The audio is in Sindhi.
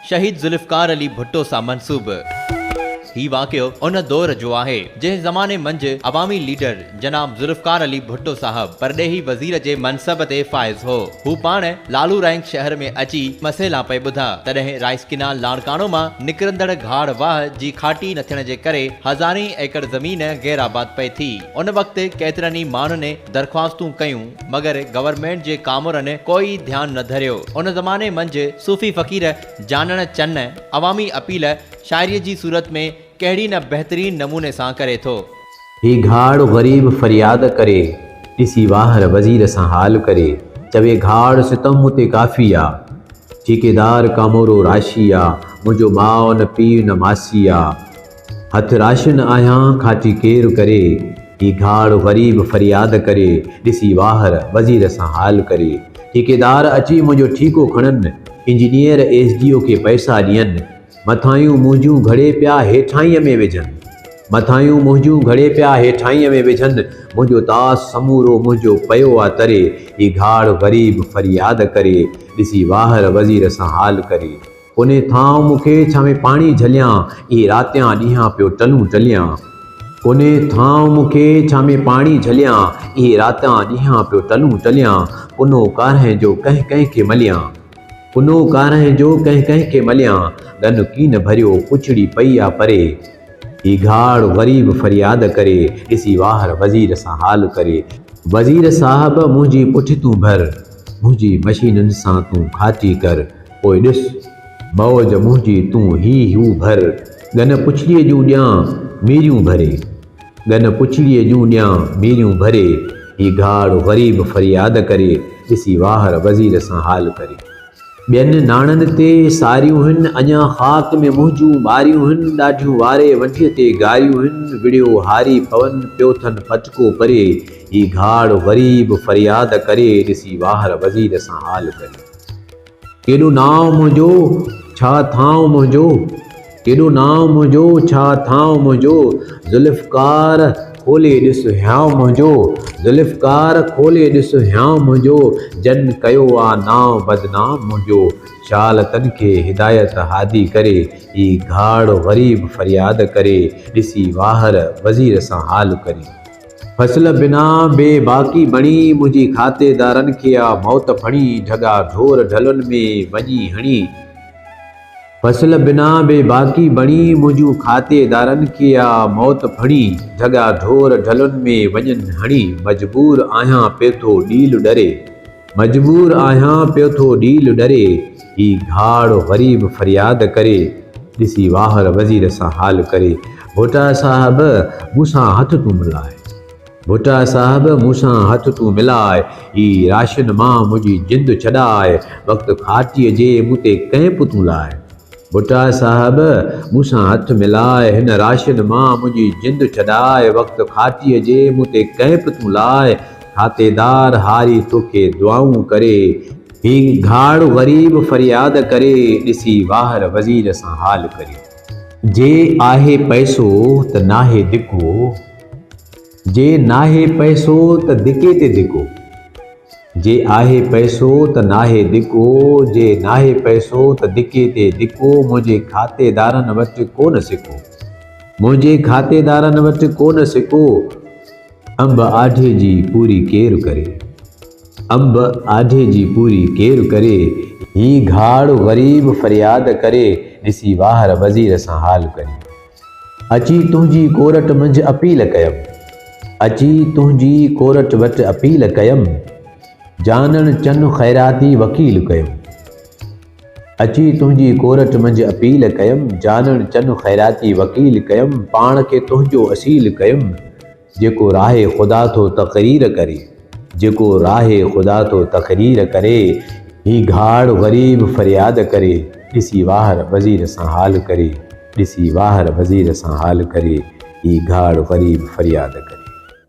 شهيد ذوالفقار علي ڀٽو سان منسوب هي واقعو ان دور جو آهي، جنهن زماني منجهه عوامي ليڊر جناب ذوالفقار علي ڀٽو صاحب پرڏيهي وزير جي منصب تي فائز هو. هو پاڻ لالو رائنڪ شهر ۾ اچي مسئلا پئي ٻڌا، تڏهن رائيس ڪينال لاڙڪاڻو مان نڪرندڙ گهاڙ واهه جي کاٽي نه ٿيڻ جي ڪري هزارين ايڪڙ زمين غيرآباد پئي ٿي. ان وقت ڪيترن ئي ماڻهن درخواستون ڪيون مگر گورنمينٽ جي ڪامورن ڪوئي ڌيان نه ڌريو ان زماني منجھ صوفي فقير جانڻ چن عوامي اپيل شاعري جي صورت ۾ ڪهڙي نه بهترين نموني سان ڪري ٿو. هي گهاڙ غريب فرياد ڪري ڏسي واهر وزير سان حال ڪري چوي گهاڙ ستم مون تي ڪافي آ ٺيڪيدار ڪامورو راشي آ منهنجو ماء نه پيء نه ماسي آ. هٿ راشن آهيان کاٽي ڪير ڪري. هي گهاڙ غريب فرياد ڪري. ڏسي واهر وزير سان حال ڪري. ٺيڪيدار اچي منهنجو ٺيڪو کڻن. انجنيئر ايس ڊي او کي پئسا ڏين. مٿايون منهنجون گهڙي پيا هيٺاهينء ۾ وجهن. مٿايون منهنجون گهڙي پيا هيٺاهينء ۾ وجهن. منهنجو طاس سمورو منهنجو پيو آ تري. هي گهاڙ غريب فرياد ڪري. ڏسي واهر وزير سان حال ڪري. ڪونهي ٿانء مون کي ڇانوي پاڻي جهليان، اي راتيان ڏينهان پيو ٽلون ٽليان. ڪونهي ٿانء مون کي ڇانوي پاڻي جهليان، اي راتيان ڏينهان پيو ٽلون ٽليان. ڪنو ڪارنهن جو ڪنهن ڪنهن کي مليان. ڪنو ڪارنهن جو ڪنهن ڪنهن کي مليان. ڳن ڪين ڀريو پڇڙي پئي آ پري. هي گهاڙ غريب فرياد ڪري. ڏسي واهر وزير سان حال ڪري. وزير صاحب منهنجي پٺتون ڀر. منهنجي مشينن سان تون کاتي ڪر. پوء ڏس، مئوج منهنجي تون هي هو ڀر، ڳن پڇڙيء جون ڏيان ميريون ڀري. ڳن پڇڙيء جون ڏيان ميريون ڀري، هي گهاڙ غريب فرياد ڪري، ڏسي واهر وزير سان حال ڪري. ٻين ناڻن تي ساريون هن، اڃا خاڪ ۾ منهنجون ٻاريون هن، ڏاڍيون واري ونڍيء تي گاريون هن، وڙهيو هاري پون پيو ٿن ڦٽڪو پري، هي گهاڙ غريب فرياد ڪري، ڏسي واهر وزير سان حال ڪري. ڪيڏو نانء منهنجو، ڇا ٿانء منهنجو. ڪيڏو نانء منهنجو، ڇا ٿانء منهنجو. ذوالفقار کولي ڏس هيانء منهنجو. ذوالفقار کولي ڏس هيانء منهنجو. جن ڪيو آ نانء بدنام منهنجو. شال تن کي هدايت هادي ڪري. هي گهاڙ غريب فرياد ڪري. ڏسي واهر وزير سان حال ڪري. فصل بنا بي باڪي بڻي، منهنجي کاتي دارن کي آ موت ڦڻي، ڍڳا ڍور ڍلن ۾ وڃي هڻي. فصل بنا بي باڪي بڻي، منهنجون کاتي دارن کي آ موت ڦڻي، ڍڳا ڍور ڍلن ۾ وڃن هڻي، مجبور آهيان پيٿو ڏيل ڏري. مجبور آهيان پيو ٿو ڏيل ڏري. هي گهاڙ غريب فرياد ڪري. ڏسي واهر وزير سان حال ڪري. ڀٽا صاحب مون سان هٿ تون ملاء. ڀٽا صاحب مون سان هٿ تون ملاء. هي راشن مان منهنجي جند ڇڏاء. وقت کاٽيء جي مون تي ڪئمپ تون لاء. ڀٽا صاحب مون سان هٿ ملاء. هن راشن مان منهنجي جند ڇڏاء. وقت کاٽيء جي مون تي ڪئمپ تون لاء. کاتيدار هاري توکي دعائون ڪري. هي گهاڙ غريب فرياد ڪري. ڏسي واهر وزير سان حال ڪري. جي آهي پئسو ته ناهي ڌڪو. جي ناهي پئسو ته ڌڪي تي ڌڪو. جي آهي پئسو ته ناهي ڌڪو. جي ناهي پئسو ته ڌڪي تي ڌڪو. منهنجي کاتيدارن وٽ ڪونه سڪو. منهنجي کاتيدارن وٽ ڪونه سڪو. انب آڍي جي پوري ڪير ڪري. انب آڍي جي پوري ڪير ڪري، هي گهاڙ غريب فرياد ڪري، ڏسي واهر وزير سان حال ڪري. اچي تنهنجي ڪورٽ منجهه اپيل ڪيم. اچي تنهنجي ڪورٽ وٽ اپيل ڪيم، جانڻ چن خيراتي وڪيل ڪيم. اچي تنهنجي ڪورٽ منجهه اپيل ڪيم، جانڻ چن خيراتي وڪيل ڪيم، پاڻ کي تنهنجو اصيل ڪيم، جيڪو راهي خدا ٿو تقرير ڪري، جيڪو راهي خدا ٿو تقرير ڪري، هي گهاڙ غريب فرياد ڪري، ڏسي واهر وزير سان حال ڪري، ڏسي واهر وزير سان حال ڪري، هي گهاڙ غريب فرياد ڪري.